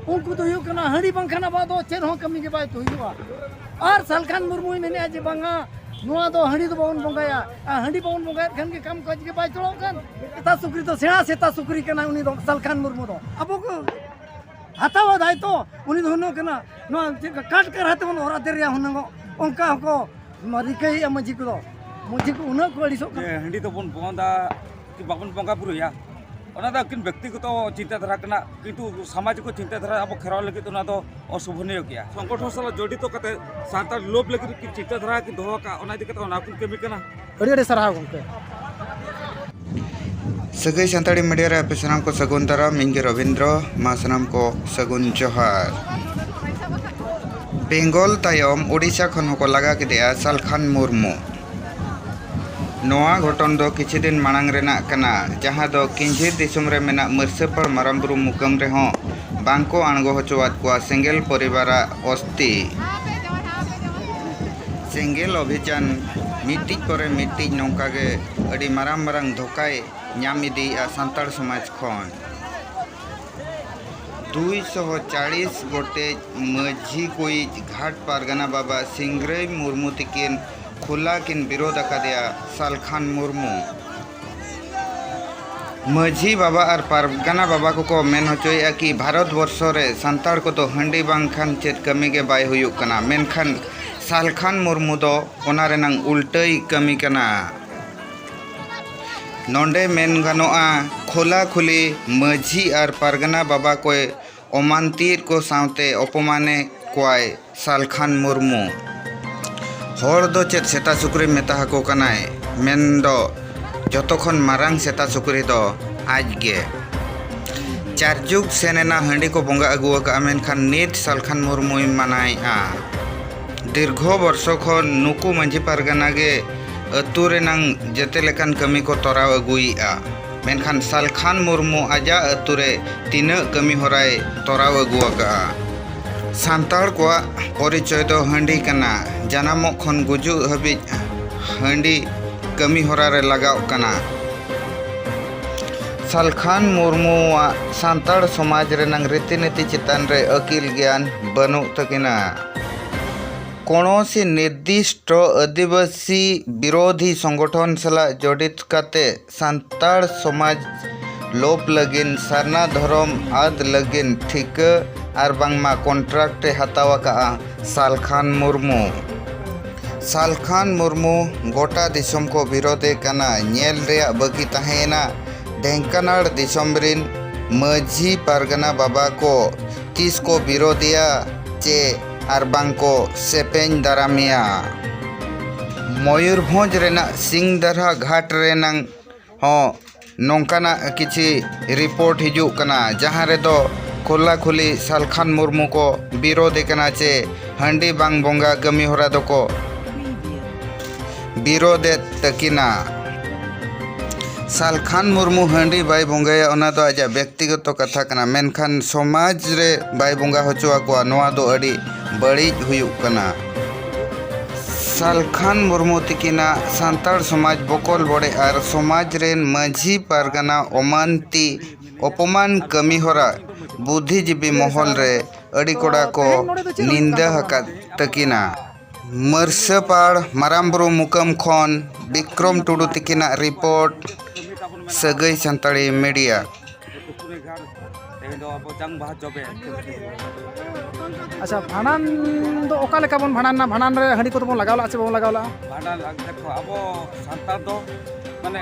ᱩᱱᱠᱩ ᱫᱚ ᱦᱩᱭᱩᱜ ᱠᱟᱱᱟ ᱦᱟᱺᱰᱤ ᱵᱟᱝᱠᱷᱟᱱ ᱟᱵᱚᱣᱟᱜ ᱫᱚ ᱪᱮᱫ ᱦᱚᱸ ᱠᱟᱹᱢᱤ ᱜᱮ ᱵᱟᱭ ᱦᱩᱭᱩᱜᱼᱟ ᱟᱨ ᱥᱟᱞᱠᱷᱟᱱ ᱢᱩᱨᱢᱩᱭ ᱢᱮᱱᱮᱫᱼᱟ ᱡᱮ ᱵᱟᱝᱟ ᱱᱚᱣᱟ ᱫᱚ ᱦᱟᱺᱰᱤ ᱫᱚ ᱵᱟᱵᱚᱱ ᱵᱚᱸᱜᱟᱭᱟ ᱟᱨ ᱦᱟᱺᱰᱤ ᱵᱟᱵᱚᱱ ᱵᱚᱸᱜᱟᱭᱮᱫ ᱠᱷᱟᱱ ᱜᱮ ᱠᱟᱢ ᱠᱟᱡᱽ ᱜᱮ ᱵᱟᱭ ᱪᱚᱲᱚᱜ ᱠᱟᱱ ᱥᱮᱛᱟ ᱥᱩᱠᱨᱤ ᱫᱚ ᱥᱮᱬᱟ ᱥᱮᱛᱟ ᱥᱩᱠᱨᱤ ᱠᱟᱱᱟ ᱩᱱᱤ ᱫᱚ ᱥᱟᱞᱠᱷᱟᱱ ᱢᱩᱨᱢᱩ ᱫᱚ ᱟᱵᱚ ᱠᱚ ᱦᱟᱛᱟᱣᱟ ᱫᱟᱭᱛᱚ ᱩᱱᱤ ᱫᱚ ᱦᱩᱱᱟᱹᱝ ᱠᱟᱱᱟ ᱱᱚᱣᱟ ᱪᱮᱫ ᱠᱟᱴ ᱠᱟᱨᱦᱟ ᱛᱮᱵᱚᱱ ᱚᱨ ᱟᱫᱮ ᱨᱮᱭᱟ ᱦᱩᱱᱟᱹᱝ ᱚᱱᱠᱟ ᱦᱚᱸᱠᱚ ᱨᱤᱠᱟᱹᱭᱮᱫᱼᱟ ᱢᱟᱹᱡᱷᱤ ᱠᱚᱫᱚ ᱢᱟᱹᱡᱷᱤ ᱠᱚ ᱩᱱᱟᱹᱜ ᱠᱚ ᱟᱹᱲᱤᱥᱚᱜ ᱠᱟᱱᱟ ᱦᱟᱺᱰᱤ ᱫᱚᱵᱚᱱ ᱵᱚᱸᱫᱟ ᱵᱟᱵᱚᱱ ᱵᱚᱸᱜᱟ ᱵᱩᱨᱩᱭᱟ ᱚᱱᱟ ᱫᱚ ᱟᱹᱠᱤᱱ ᱵᱮᱠᱛᱤᱜᱚᱛᱚ ᱪᱤᱱᱛᱟᱹ ᱫᱷᱟᱨᱟ ᱠᱟᱱᱟ ᱠᱤᱱᱛᱩ ᱥᱟᱢᱟᱡᱤᱠ ᱪᱤᱱᱛᱟᱹ ᱫᱷᱟᱨᱟ ᱟᱵᱚ ᱠᱷᱮᱨᱣᱟᱞ ᱞᱟᱹᱜᱤᱫ ᱚᱱᱟ ᱫᱚ ᱚᱥᱳᱵᱷᱚᱱᱤᱭᱚ ᱜᱮᱭᱟ ᱥᱚᱝᱜᱚᱴᱷᱚᱱ ᱥᱟᱞᱟᱜ ᱡᱚᱲᱤᱛᱚ ᱠᱟᱛᱮ ᱥᱟᱱᱛᱟᱲ ᱞᱳᱵ ᱞᱟᱹᱜᱤᱫ ᱠᱤᱱ ᱪᱤᱱᱛᱟᱹ ᱫᱷᱟᱨᱟ ᱠᱤᱱ ᱫᱚᱦᱚ ᱟᱠᱟᱫ ᱚᱱᱟ ᱤᱫᱤ ᱠᱟᱛᱮ ᱚᱱᱟ ᱠᱤᱱ ᱠᱟᱹᱢᱤ ᱠᱟᱱᱟ ᱟᱹᱰᱤ ᱟᱹᱰᱤ ᱥᱟᱨᱦᱟᱣ ᱜᱚᱢᱠᱮ ᱥᱟᱹᱜᱟᱹᱭ ᱥᱟᱱᱛᱟᱲᱤ ᱢᱤᱰᱤᱭᱟ ᱨᱮ ᱟᱯᱮ ᱥᱟᱱᱟᱢ ᱠᱚ ᱥᱟᱹᱜᱩᱱ ᱫᱟᱨᱟᱢ ᱤᱧ ᱜᱮ ᱨᱚᱵᱤᱱᱫᱨᱚ ᱢᱟ ᱥᱟᱱᱟᱢ ᱠᱚ ᱥᱟᱹᱜᱩᱱ ᱡᱚᱦᱟᱨ ᱵᱮᱝᱜᱚᱞ ᱛᱟᱭᱚᱢ ᱳᱰᱤᱥᱟ ᱠᱷᱚᱱ ᱦᱚᱸᱠᱚ ᱞᱟᱜᱟ ᱠᱮᱫᱮᱭᱟ ᱥᱟᱞᱠᱷᱟᱱ ᱢᱩᱨᱢᱩ ᱱᱚᱣᱟ ᱜᱷᱚᱴᱚᱱ ᱫᱚ ᱠᱤᱪᱷᱤ ᱫᱤᱱ ᱢᱟᱲᱟᱝ ᱨᱮᱱᱟᱜ ᱠᱟᱱᱟ, ᱡᱟᱦᱟᱸ ᱫᱚ ᱠᱤᱧᱡᱷᱤᱨ ᱫᱤᱥᱚᱢ ᱨᱮ ᱢᱮᱱᱟᱜ ᱢᱟᱹᱨᱥᱟᱹᱯᱟᱲ ᱢᱟᱨᱟᱝ ᱵᱩᱨᱩ ᱢᱩᱠᱟᱹᱢ ᱨᱮ ᱦᱚᱸ ᱵᱟᱝ ᱠᱚ ᱟᱬᱜᱚ ᱦᱚᱪᱚ ᱟᱫ ᱠᱚᱣᱟ ᱥᱮᱸᱜᱮᱞ ᱯᱚᱨᱤᱵᱟᱨ ᱟᱜ ᱚᱥᱛᱷᱤ᱾ ᱥᱮᱸᱜᱮᱞ ᱚᱵᱷᱤᱡᱟᱱ ᱢᱤᱫᱴᱤᱡ ᱯᱚᱨᱮ ᱢᱤᱫᱴᱤᱡ ᱱᱚᱝᱠᱟ ᱜᱮ ᱟᱹᱰᱤ ᱢᱟᱨᱟᱝ ᱢᱟᱨᱟᱝ ᱫᱷᱚᱠᱟᱭ ᱧᱟᱢ ᱤᱫᱤᱭᱮᱜᱼᱟ ᱥᱟᱱᱛᱟᱲ ᱥᱚᱢᱟᱡᱽ ᱠᱷᱚᱱ᱾ ᱫᱩᱭ ᱥᱚ ᱪᱟᱞᱤᱥ ᱜᱚᱴᱮᱡ ᱢᱟᱹᱡᱷᱤ ᱠᱚᱭᱤᱡ ᱜᱷᱟᱴ ᱯᱟᱨᱜᱟᱱᱟ ᱵᱟᱵᱟ ᱥᱤᱝᱨᱟᱹᱭ ᱢᱩᱨᱢᱩ ᱛᱤᱠᱤᱱ ᱠᱷᱩᱞᱟ ᱠᱤᱱ ᱵᱤᱨᱳᱫᱷ ᱟᱠᱟᱫᱮᱭᱟ ᱥᱟᱞᱠᱷᱟᱱ ᱢᱩᱨᱢᱩ ᱢᱟᱹᱡᱷᱤ ᱵᱟᱵᱟ ᱟᱨ ᱯᱟᱨᱜᱟᱱᱟ ᱵᱟᱵᱟ ᱠᱚᱠᱚ ᱢᱮᱱ ᱦᱚᱪᱚᱭᱮᱫᱼᱟ ᱠᱤ ᱵᱷᱟᱨᱚᱛ ᱵᱚᱨᱥᱚ ᱨᱮ ᱥᱟᱱᱛᱟᱲ ᱠᱚᱫᱚ ᱦᱟᱺᱰᱤ ᱵᱟᱝᱠᱷᱟᱱ ᱪᱮᱫ ᱠᱟᱹᱢᱤ ᱜᱮ ᱵᱟᱭ ᱦᱩᱭᱩᱜ ᱠᱟᱱᱟ ᱢᱮᱱᱠᱷᱟᱱ ᱥᱟᱞᱠᱷᱟᱱ ᱢᱩᱨᱢᱩ ᱫᱚ ᱚᱱᱟ ᱨᱮᱱᱟᱝ ᱩᱞᱴᱟᱹᱭ ᱠᱟᱹᱢᱤ ᱠᱟᱱᱟ ᱱᱚᱸᱰᱮ ᱢᱮᱱ ᱜᱟᱱᱚᱜᱼᱟ ᱠᱷᱩᱞᱟ ᱠᱷᱩᱞᱤ ᱢᱟᱹᱡᱷᱤ ᱟᱨ ᱯᱟᱨᱜᱟᱱᱟ ᱵᱟᱵᱟ ᱠᱚᱭ ᱚᱢᱟᱱᱛᱤᱭᱮᱫ ᱠᱚ ᱥᱟᱶᱛᱮ ᱚᱯᱚᱢᱟᱱᱮᱫ ᱠᱚᱣᱟᱭ ᱥᱟᱞᱠᱷᱟᱱ ᱢᱩᱨᱢᱩ᱾ ᱦᱚᱲ ᱫᱚ ᱪᱮᱫ ᱥᱮᱛᱟ ᱥᱩᱠᱨᱤ ᱢᱮᱛᱟ ᱦᱟᱠᱚ ᱠᱟᱱᱟᱭ ᱢᱮᱱ ᱫᱚ ᱡᱚᱛᱚ ᱠᱷᱚᱱ ᱢᱟᱨᱟᱝ ᱥᱮᱛᱟ ᱥᱩᱠᱨᱤ ᱫᱚ ᱟᱡ ᱜᱮ᱾ ᱪᱟᱨ ᱡᱩᱜᱽ ᱥᱮᱱ ᱮᱱᱟ ᱦᱟᱺᱰᱤ ᱠᱚ ᱵᱚᱸᱜᱟ ᱟᱹᱜᱩ ᱟᱠᱟᱫᱼᱟ ᱢᱮᱱᱠᱷᱟᱱ ᱱᱤᱛ ᱥᱟᱞᱠᱷᱟᱱ ᱢᱩᱨᱢᱩᱭ ᱢᱟᱱᱟᱭᱮᱫᱼᱟ᱾ ᱫᱤᱨᱜᱷᱚ ᱵᱚᱨᱥᱚ ᱠᱷᱚᱱ ᱱᱩᱠᱩ ᱢᱟᱹᱡᱷᱤ ᱯᱟᱨᱜᱟᱱᱟ ᱜᱮ ᱟᱹᱛᱩ ᱨᱮᱱᱟᱝ ᱡᱮᱛᱮ ᱞᱮᱠᱟᱱ ᱠᱟᱹᱢᱤ ᱠᱚ ᱛᱚᱨᱟᱣ ᱟᱹᱜᱩᱭᱮᱫᱼᱟ᱾ ᱢᱮᱱᱠᱷᱟᱱ ᱥᱟᱞᱠᱷᱟᱱ ᱢᱩᱨᱢᱩ ᱟᱡᱟᱜ ᱟᱹᱛᱩ ᱨᱮ ᱛᱤᱱᱟᱹᱜ ᱠᱟᱹᱢᱤ ᱦᱚᱨᱟᱭ ᱛᱚᱨᱟᱣ ᱟᱹᱜᱩ ᱟᱠᱟᱫᱼᱟ? ᱥᱟᱱᱛᱟᱲ ᱠᱚᱣᱟᱜ ᱯᱚᱨᱤᱪᱚᱭ ᱫᱚ ᱦᱟᱺᱰᱤ ᱠᱟᱱᱟ᱾ ᱡᱟᱱᱟᱢᱚᱜ ᱠᱷᱚᱱ ᱜᱩᱡᱩᱜ ᱦᱟᱹᱵᱤᱡ ᱦᱟᱺᱰᱤ ᱠᱟᱹᱢᱤ ᱦᱚᱨᱟ ᱨᱮ ᱞᱟᱜᱟᱣᱜ ᱠᱟᱱᱟ᱾ ᱥᱟᱞᱠᱷᱟᱱ ᱢᱩᱨᱢᱩᱣᱟᱜ ᱥᱟᱱᱛᱟᱲ ᱥᱚᱢᱟᱡᱽ ᱨᱮᱱᱟᱝ ᱨᱤᱛᱤ ᱱᱤᱛᱤ ᱪᱮᱛᱟᱱ ᱨᱮ ᱟᱹᱠᱤᱞ ᱜᱮᱭᱟᱱ ᱵᱟᱹᱱᱩᱜ ᱛᱟᱹᱠᱤᱱᱟ᱾ ᱠᱚᱱᱚᱥᱤ ᱱᱤᱨᱫᱤᱥᱴᱚ ᱟᱹᱫᱤᱵᱟᱹᱥᱤ ᱵᱤᱨᱚᱫᱷᱤ ᱥᱚᱝᱜᱚᱴᱷᱚᱱ ᱥᱟᱞᱟᱜ ᱡᱚᱰᱤᱛ ᱠᱟᱛᱮ ᱥᱟᱱᱛᱟᱲ ᱥᱚᱢᱟᱡᱽ ᱞᱳᱯ ᱞᱟᱹᱜᱤᱫ ᱥᱟᱨᱱᱟ ᱫᱷᱚᱨᱚᱢ ᱟᱫ ᱞᱟᱹᱜᱤᱫ ᱴᱷᱤᱠᱟᱹ ᱟᱨ ᱵᱟᱝᱢᱟ ᱠᱚᱱᱴᱨᱟᱠᱴ ᱮ ᱦᱟᱛᱟᱣ ᱟᱠᱟᱫᱼᱟ ᱥᱟᱞᱠᱷᱟᱱ ᱢᱩᱨᱢᱩ ᱥᱟᱞᱠᱷᱟᱱ ᱢᱩᱨᱢᱩ ᱜᱚᱴᱟ ᱫᱤᱥᱚᱢ ᱠᱚ ᱵᱤᱨᱚᱫᱮ ᱠᱟᱱᱟ ᱧᱮᱞ ᱨᱮᱭᱟᱜ ᱵᱟᱹᱠᱤ ᱛᱟᱦᱮᱸᱭᱮᱱᱟ ᱰᱷᱮᱝᱠᱟᱱᱟᱲ ᱫᱤᱥᱚᱢ ᱨᱤᱱ ᱢᱟᱹᱡᱷᱤ ᱯᱟᱨᱜᱟᱱᱟ ᱵᱟᱵᱟ ᱠᱚ ᱛᱤᱥ ᱠᱚ ᱵᱤᱨᱚᱫᱮᱭᱟ ᱪᱮ ᱟᱨ ᱵᱟᱝ ᱠᱚ ᱥᱮᱯᱮᱧ ᱫᱟᱨᱟᱢᱮᱭᱟ᱾ ᱢᱚᱭᱩᱨᱵᱷᱚᱸᱡᱽ ᱨᱮᱱᱟᱜ ᱥᱤᱝᱫᱟᱨᱦᱟ ᱜᱷᱟᱴ ᱨᱮᱱᱟᱝ ᱦᱚᱸ ᱱᱚᱝᱠᱟᱱᱟᱜ ᱠᱤᱪᱷᱤ ᱨᱤᱯᱚᱨᱴ ᱦᱤᱡᱩᱜ ᱠᱟᱱᱟ ᱡᱟᱦᱟᱸ ᱨᱮᱫᱚ ᱠᱷᱩᱞᱟ ᱠᱷᱩᱞᱤ ᱥᱟᱞᱠᱷᱟᱱ ᱢᱩᱨᱢᱩ ᱠᱚ ᱵᱤᱨᱚᱫᱷ ᱮ ᱠᱟᱱᱟ ᱪᱮ ᱦᱟᱺᱰᱤ ᱵᱟᱝ ᱵᱚᱸᱜᱟ ᱠᱟᱹᱢᱤᱦᱚᱨᱟ ᱫᱚᱠᱚ ᱵᱤᱨᱳᱫᱷ ᱮᱫ ᱛᱟᱹᱠᱤᱱᱟ ᱥᱟᱞᱠᱷᱟᱱ ᱢᱩᱨᱢᱩ ᱦᱟᱺᱰᱤ ᱵᱟᱭ ᱵᱚᱸᱜᱟᱭᱟ ᱚᱱᱟ ᱫᱚ ᱟᱡᱟᱜ ᱵᱮᱠᱛᱤᱜᱚᱛᱚ ᱠᱟᱛᱷᱟ ᱠᱟᱱᱟ ᱢᱮᱱᱠᱷᱟᱱ ᱥᱚᱢᱟᱡᱽ ᱨᱮ ᱵᱟᱭ ᱵᱚᱸᱜᱟ ᱦᱚᱪᱚ ᱟᱠᱚᱣᱟ ᱱᱚᱣᱟ ᱫᱚ ᱟᱹᱰᱤ ᱵᱟᱹᱲᱤᱡ ᱦᱩᱭᱩᱜ ᱠᱟᱱᱟ ᱥᱟᱞᱠᱷᱟᱱ ᱢᱩᱨᱢᱩ ᱛᱤᱠᱤᱱᱟᱜ ᱥᱟᱱᱛᱟᱲ ᱥᱚᱢᱟᱡᱽ ᱵᱚᱠᱚᱞ ᱵᱚᱰᱮ ᱟᱨ ᱥᱚᱢᱟᱡᱽ ᱨᱮᱱ ᱢᱟᱹᱡᱷᱤ ᱯᱟᱨᱜᱟᱱᱟ ᱚᱢᱟᱱᱛᱤ ᱚᱯᱚᱢᱟᱱ ᱠᱟᱹᱢᱤ ᱦᱚᱨᱟ ᱵᱩᱫᱷᱤᱡᱤᱵᱤ ᱢᱚᱦᱚᱞ ᱨᱮ ᱟᱹᱰᱤ ᱠᱚᱰᱟ ᱠᱚ ᱱᱤᱱᱫᱟᱹ ᱟᱠᱟᱫ ᱛᱟᱹᱠᱤᱱᱟ ᱢᱟᱹᱨᱥᱟᱹᱯᱟᱲ ᱢᱟᱨᱟᱝ ᱵᱩᱨᱩ ᱢᱩᱠᱟᱹᱢ ᱠᱷᱚᱱ ᱵᱤᱠᱨᱚᱢ ᱴᱩᱰᱩ ᱛᱤᱠᱤᱱᱟᱜ ᱨᱤᱯᱳᱨᱴ ᱥᱟᱹᱜᱟᱹᱭ ᱥᱟᱱᱛᱟᱲᱤ ᱢᱤᱰᱤᱭᱟ ᱟᱪᱪᱷᱟ ᱵᱷᱟᱸᱰᱟᱱ ᱫᱚ ᱚᱠᱟ ᱞᱮᱠᱟ ᱵᱚᱱ ᱵᱷᱟᱸᱰᱟᱱᱟ ᱵᱷᱟᱸᱰᱟᱱ ᱨᱮ ᱦᱟᱺᱰᱤ ᱠᱚᱫᱚ ᱵᱚᱱ ᱞᱟᱜᱟᱣ ᱞᱟᱜᱼᱟ ᱥᱮ ᱵᱟᱵᱚᱱ ᱞᱟᱜᱟᱣ ᱞᱟᱜᱼᱟ ᱵᱷᱟᱸᱰᱟᱱ ᱫᱚ ᱟᱵᱚ ᱥᱟᱱᱛᱟᱲ ᱫᱚ ᱢᱟᱱᱮ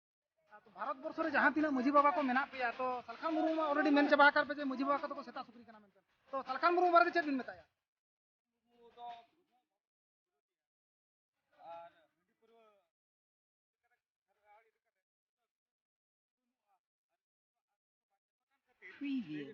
ᱵᱷᱟᱨᱚᱛ ᱵᱚᱨᱥᱚ ᱨᱮ ᱡᱟᱦᱟᱸ ᱛᱤᱱᱟᱹᱜ ᱢᱟᱹᱡᱷᱤ ᱵᱟᱵᱟ ᱠᱚ ᱢᱮᱱᱟᱜ ᱯᱮᱭᱟ ᱛᱚ ᱥᱟᱞᱠᱷᱟᱱ ᱢᱩᱨᱢᱩ ᱢᱟ ᱚᱞᱨᱮᱰᱤ ᱢᱮᱱ ᱪᱟᱵᱟ ᱟᱠᱟᱫ ᱯᱮ ᱡᱮ ᱢᱟᱹᱡᱷᱤ ᱵᱟᱵᱟ ᱠᱚᱫᱚ ᱠᱚ ᱥᱮᱛᱟ ᱥᱩᱠᱨᱤ ᱠᱟᱱᱟ ᱢᱮᱱᱛᱮ ᱛᱚ ᱥᱟᱞᱠᱷᱟᱱ ᱢᱩᱨᱢᱩ ᱵᱟᱨᱮᱛᱮ ᱪᱮᱫ ᱵᱤᱱ ᱢᱮᱛᱟᱭᱟ preview.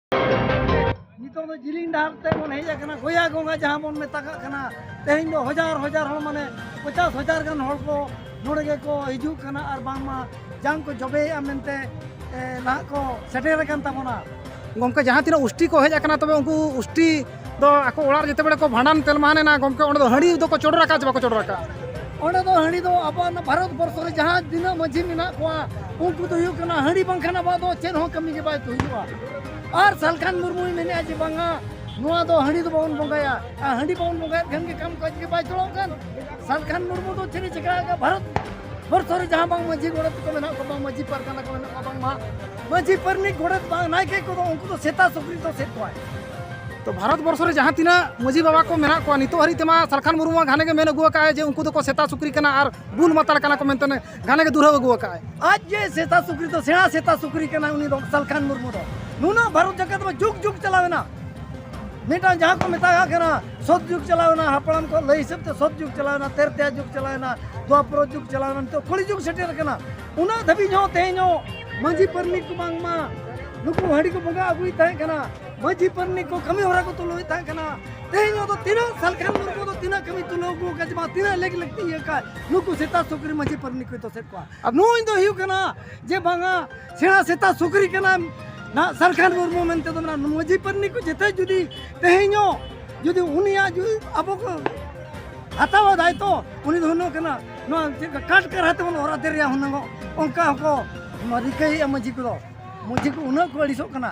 ᱱᱤᱛᱚᱜ ᱫᱚ ᱡᱤᱞᱤᱧ ᱰᱟᱦᱟᱨ ᱛᱮ ᱵᱚᱱ ᱦᱮᱡ ᱟᱠᱟᱱᱟ ᱜᱚᱭᱟ ᱜᱚᱸᱜᱟ ᱡᱟᱦᱟᱸ ᱵᱚᱱ ᱢᱮᱛᱟᱜ ᱠᱟᱱᱟ ᱛᱮᱦᱮᱧ ᱫᱚ ᱦᱟᱡᱟᱨ ᱦᱟᱡᱟᱨ ᱦᱚᱲ ᱢᱟᱱᱮ ᱯᱚᱪᱟᱥ ᱦᱟᱡᱟᱨ ᱜᱟᱱ ᱦᱚᱲ ᱠᱚ ᱱᱚᱰᱮ ᱜᱮᱠᱚ ᱦᱤᱡᱩᱜ ᱠᱟᱱᱟ ᱟᱨ ᱵᱟᱝᱢᱟ ᱡᱟᱝ ᱠᱚ ᱡᱚᱵᱮᱭᱮᱜᱼᱟ ᱢᱮᱱᱛᱮ ᱱᱟᱦᱟᱜ ᱠᱚ ᱥᱮᱴᱮᱨ ᱟᱠᱟᱱ ᱛᱟᱵᱚᱱᱟ ᱜᱚᱢᱠᱮ ᱡᱟᱦᱟᱸ ᱛᱤᱱᱟᱹᱜ ᱩᱥᱴᱤ ᱠᱚ ᱦᱮᱡ ᱟᱠᱟᱱᱟ ᱛᱚᱵᱮ ᱩᱱᱠᱩ ᱩᱥᱴᱤ ᱫᱚ ᱟᱠᱚ ᱚᱲᱟᱜ ᱨᱮ ᱡᱮᱛᱮ ᱵᱮᱲᱮ ᱠᱚ ᱵᱷᱟᱸᱰᱟᱱ ᱛᱮᱞᱢᱟᱦᱟᱱ ᱮᱱᱟ ᱜᱚᱢᱠᱮ ᱚᱸᱰᱮ ᱫᱚ ᱦᱟᱺᱰᱤ ᱫᱚᱠᱚ ᱪᱚᱰᱚᱨ ᱟᱠᱟᱫ ᱪᱮ ᱵᱟᱠᱚ ᱪᱚᱰᱚᱨ ᱟᱠᱟᱫ ᱚᱸᱰᱮ ᱫᱚ ᱦᱟᱺᱰᱤ ᱫᱚ ᱟᱵᱚᱣᱟᱜ ᱚᱱᱟ ᱵᱷᱟᱨᱚᱛ ᱵᱚᱨᱥᱚ ᱨᱮ ᱡᱟᱦᱟᱸ ᱛᱤᱱᱟᱹᱜ ᱢᱟᱺᱡᱷᱤ ᱢᱮᱱᱟᱜ ᱠᱚᱣᱟ ᱩᱱᱠᱩ ᱫᱚ ᱦᱩᱭᱩᱜ ᱠᱟᱱᱟ ᱦᱟᱺᱰᱤ ᱵᱟᱝᱠᱷᱟᱱ ᱟᱵᱚᱣᱟᱜ ᱫᱚ ᱪᱮᱫ ᱦᱚᱸ ᱠᱟᱹᱢᱤ ᱜᱮ ᱵᱟᱭ ᱦᱩᱭᱩᱜᱼᱟ ᱟᱨ ᱥᱟᱞᱠᱷᱟᱱ ᱢᱩᱨᱢᱩᱭ ᱢᱮᱱᱮᱫᱼᱟ ᱡᱮ ᱵᱟᱝᱟ ᱱᱚᱣᱟ ᱫᱚ ᱦᱟᱺᱰᱤ ᱫᱚ ᱵᱟᱵᱚᱱ ᱵᱚᱸᱜᱟᱭᱟ ᱟᱨ ᱦᱟᱺᱰᱤ ᱵᱟᱵᱚᱱ ᱵᱚᱸᱜᱟᱭᱮᱫ ᱠᱷᱟᱱ ᱜᱮ ᱠᱟᱢ ᱠᱟᱡᱽ ᱜᱮ ᱵᱟᱭ ᱪᱚᱲᱚᱜ ᱠᱟᱱ ᱥᱟᱞᱠᱷᱟᱱ ᱢᱩᱨᱢᱩ ᱫᱚ ᱪᱮᱫ ᱮ ᱪᱤᱠᱟᱹ ᱟᱠᱟᱫᱼᱟ ᱵᱷᱟᱨᱚᱛ ᱵᱚᱨᱥᱚ ᱨᱮ ᱡᱟᱦᱟᱸ ᱵᱟᱝ ᱢᱟᱺᱡᱷᱤ ᱜᱚᱰᱮᱛ ᱠᱚ ᱢᱮᱱᱟᱜ ᱠᱚᱣᱟ ᱵᱟᱝ ᱢᱟᱺᱡᱷᱤ ᱯᱟᱨᱜᱟᱱᱟ ᱠᱚ ᱢᱮᱱᱟᱜ ᱠᱚᱣᱟ ᱵᱟᱝᱢᱟ ᱢᱟᱺᱡᱷᱤ ᱯᱟᱨᱱᱤᱠ ᱜᱚᱰᱮᱛ ᱵᱟᱝ ᱱᱟᱭᱠᱮ ᱠᱚᱫᱚ ᱩᱱᱠᱩ ᱫᱚ ᱥᱮᱛᱟ ᱥᱩᱠᱨᱤ ᱫᱚ ᱥᱮᱫ ᱠᱚᱣᱟᱭ ᱛᱚ ᱵᱷᱟᱨᱚᱛ ᱵᱚᱨᱥᱚ ᱨᱮ ᱡᱟᱦᱟᱸ ᱛᱤᱱᱟᱹᱜ ᱢᱟᱹᱡᱷᱤ ᱵᱟᱵᱟ ᱠᱚ ᱢᱮᱱᱟᱜ ᱠᱚᱣᱟ ᱱᱤᱛᱚᱜ ᱦᱟᱹᱨᱤᱡ ᱛᱮᱢᱟ ᱥᱟᱞᱠᱷᱟᱱ ᱢᱩᱨᱢᱩ ᱢᱟ ᱜᱷᱟᱱᱮ ᱜᱮ ᱢᱮᱱ ᱟᱹᱜᱩ ᱟᱠᱟᱫ ᱟᱭ ᱡᱮ ᱩᱱᱠᱩ ᱫᱚᱠᱚ ᱥᱮᱛᱟ ᱥᱩᱠᱨᱤ ᱠᱟᱱᱟ ᱟᱨ ᱵᱩᱞ ᱢᱟᱛᱟᱲ ᱠᱟᱱᱟ ᱠᱚ ᱢᱮᱱᱛᱮ ᱜᱷᱟᱱᱮ ᱜᱮ ᱫᱩᱨᱦᱟᱹ ᱟᱹᱜᱩ ᱟᱠᱟᱫ ᱟᱭ ᱟᱡ ᱡᱮ ᱥᱮᱛᱟ ᱥᱩᱠᱨᱤ ᱫᱚ ᱥᱮᱬᱟ ᱥᱮᱛᱟ ᱥᱩᱠᱨᱤ ᱠᱟᱱᱟ ᱩᱱᱤ ᱫᱚ ᱥᱟᱞᱠᱷᱟᱱ ᱢᱩᱨᱢᱩ ᱫᱚ ᱱᱩᱱᱟᱹᱜ ᱵᱷᱟᱨᱚᱛ ᱡᱟᱠᱟᱛ ᱢᱟ ᱡᱩᱜᱽ ᱡᱩᱜᱽ ᱪᱟᱞᱟᱣᱮᱱᱟ ᱢᱤᱫᱴᱟᱝ ᱡᱟᱦᱟᱸ ᱠᱚ ᱢᱮᱛᱟᱜ ᱠᱟᱱᱟ ᱥᱚᱛ ᱡᱩᱜᱽ ᱪᱟᱞᱟᱣᱮᱱᱟ ᱦᱟᱯᱲᱟᱢ ᱠᱚ ᱞᱟᱹᱭ ᱦᱤᱥᱟᱹᱵ ᱛᱮ ᱥᱚᱛ ᱡᱩᱜᱽ ᱪᱟᱞᱟᱣᱮᱱᱟ ᱛᱮᱨᱛᱮᱭᱟ ᱡᱩᱜᱽ ᱪᱟᱞᱟᱣᱮᱱᱟ ᱫᱩᱣᱟᱯᱨᱚ ᱡᱩᱜᱽ ᱪᱟᱞᱟᱣᱮᱱᱟ ᱱᱤᱛᱚᱜ ᱠᱚᱞᱤ ᱡᱩᱜᱽ ᱥᱮᱴᱮᱨ ᱟᱠᱟᱱᱟ ᱩᱱᱟᱹᱜ ᱫᱷᱟᱹᱵᱤᱡ ᱦᱚᱸ ᱛᱮᱦᱮᱧ ᱦᱚᱸ ᱢᱟᱹᱡᱷᱤ ᱯᱟᱨᱱᱤᱠ ᱠᱚ ᱵᱟᱝᱢᱟ ᱱᱩᱠᱩ ᱦᱟᱺᱰᱤ ᱠᱚ ᱵᱚᱸᱜᱟ ᱟᱹᱜᱩᱭ ᱛᱟᱦᱮᱸ ᱠᱟᱱᱟ ᱢᱟᱹᱡᱷᱤ ᱯᱟᱨᱱᱤᱠ ᱠᱚ ᱠᱟᱹᱢᱤ ᱦᱚᱨᱟ ᱠᱚ ᱛᱩᱞᱟᱹᱣ ᱛᱟᱦᱮᱸ ᱠᱟᱱᱟ ᱛᱮᱦᱮᱧ ᱫᱚ ᱛᱤᱱᱟᱹᱜ ᱥᱟᱞᱠᱷᱟᱱ ᱢᱩᱨᱢᱩ ᱫᱚ ᱛᱤᱱᱟᱹᱜ ᱠᱟᱹᱢᱤ ᱛᱩᱞᱟᱹᱣ ᱟᱹᱜᱩ ᱟᱠᱟᱫ ᱵᱟᱝ ᱛᱤᱱᱟᱹᱜ ᱞᱮᱠ ᱞᱟᱹᱠᱛᱤ ᱤᱭᱟᱹ ᱠᱟᱜ ᱱᱩᱠᱩ ᱥᱮᱛᱟ ᱥᱩᱠᱨᱤ ᱢᱟᱹᱡᱷᱤ ᱯᱟᱨᱱᱤᱠ ᱠᱚᱭ ᱫᱚᱥᱮᱫ ᱠᱚᱣᱟ ᱟᱨ ᱱᱩᱭ ᱫᱚ ᱦᱩᱭᱩᱜ ᱠᱟᱱᱟ ᱡᱮ ᱵᱟᱝᱟ ᱥᱮᱬᱟ ᱥᱮᱛᱟ ᱥᱩᱠᱨᱤ ᱠᱟᱱᱟ ᱱᱟ ᱥᱟᱞᱠᱷᱟᱱ ᱢᱩᱨᱢᱩ ᱢᱮᱱᱛᱮ ᱫᱚ ᱢᱮᱱᱟᱜᱼᱟ ᱢᱟᱹᱡᱷᱤ ᱯᱟᱨᱱᱤᱠ ᱠᱚ ᱡᱮᱛᱮ ᱡᱩᱫᱤ ᱛᱮᱦᱮᱧ ᱦᱚᱸ ᱡᱩᱫᱤ ᱩᱱᱤᱭᱟᱜ ᱡᱩᱫᱤ ᱟᱵᱚ ᱠᱚ ᱦᱟᱛᱟᱣᱟ ᱫᱟᱭᱤᱛᱛᱚ ᱩᱱᱤ ᱫᱚ ᱦᱩᱱᱟᱹᱝ ᱠᱟᱱᱟ ᱱᱚᱣᱟ ᱪᱮᱫ ᱞᱮᱠᱟ ᱠᱟᱴ ᱠᱟᱨᱦᱟ ᱛᱮᱵᱚᱱ ᱚᱨ ᱟᱫᱮᱨ ᱨᱮᱭᱟᱜ ᱦᱩᱱᱟᱹᱝ ᱚᱱᱠᱟ ᱦᱚᱸᱠᱚ ᱨᱤᱠᱟᱹᱭᱮᱫᱼᱟ ᱢᱟᱺᱡᱷᱤ ᱠᱚᱫᱚ ᱢᱟᱺᱡᱷᱤ ᱠᱚ ᱩᱱᱟᱹᱜ ᱠᱚ ᱟᱹᱲᱤᱥᱚᱜ ᱠᱟᱱᱟ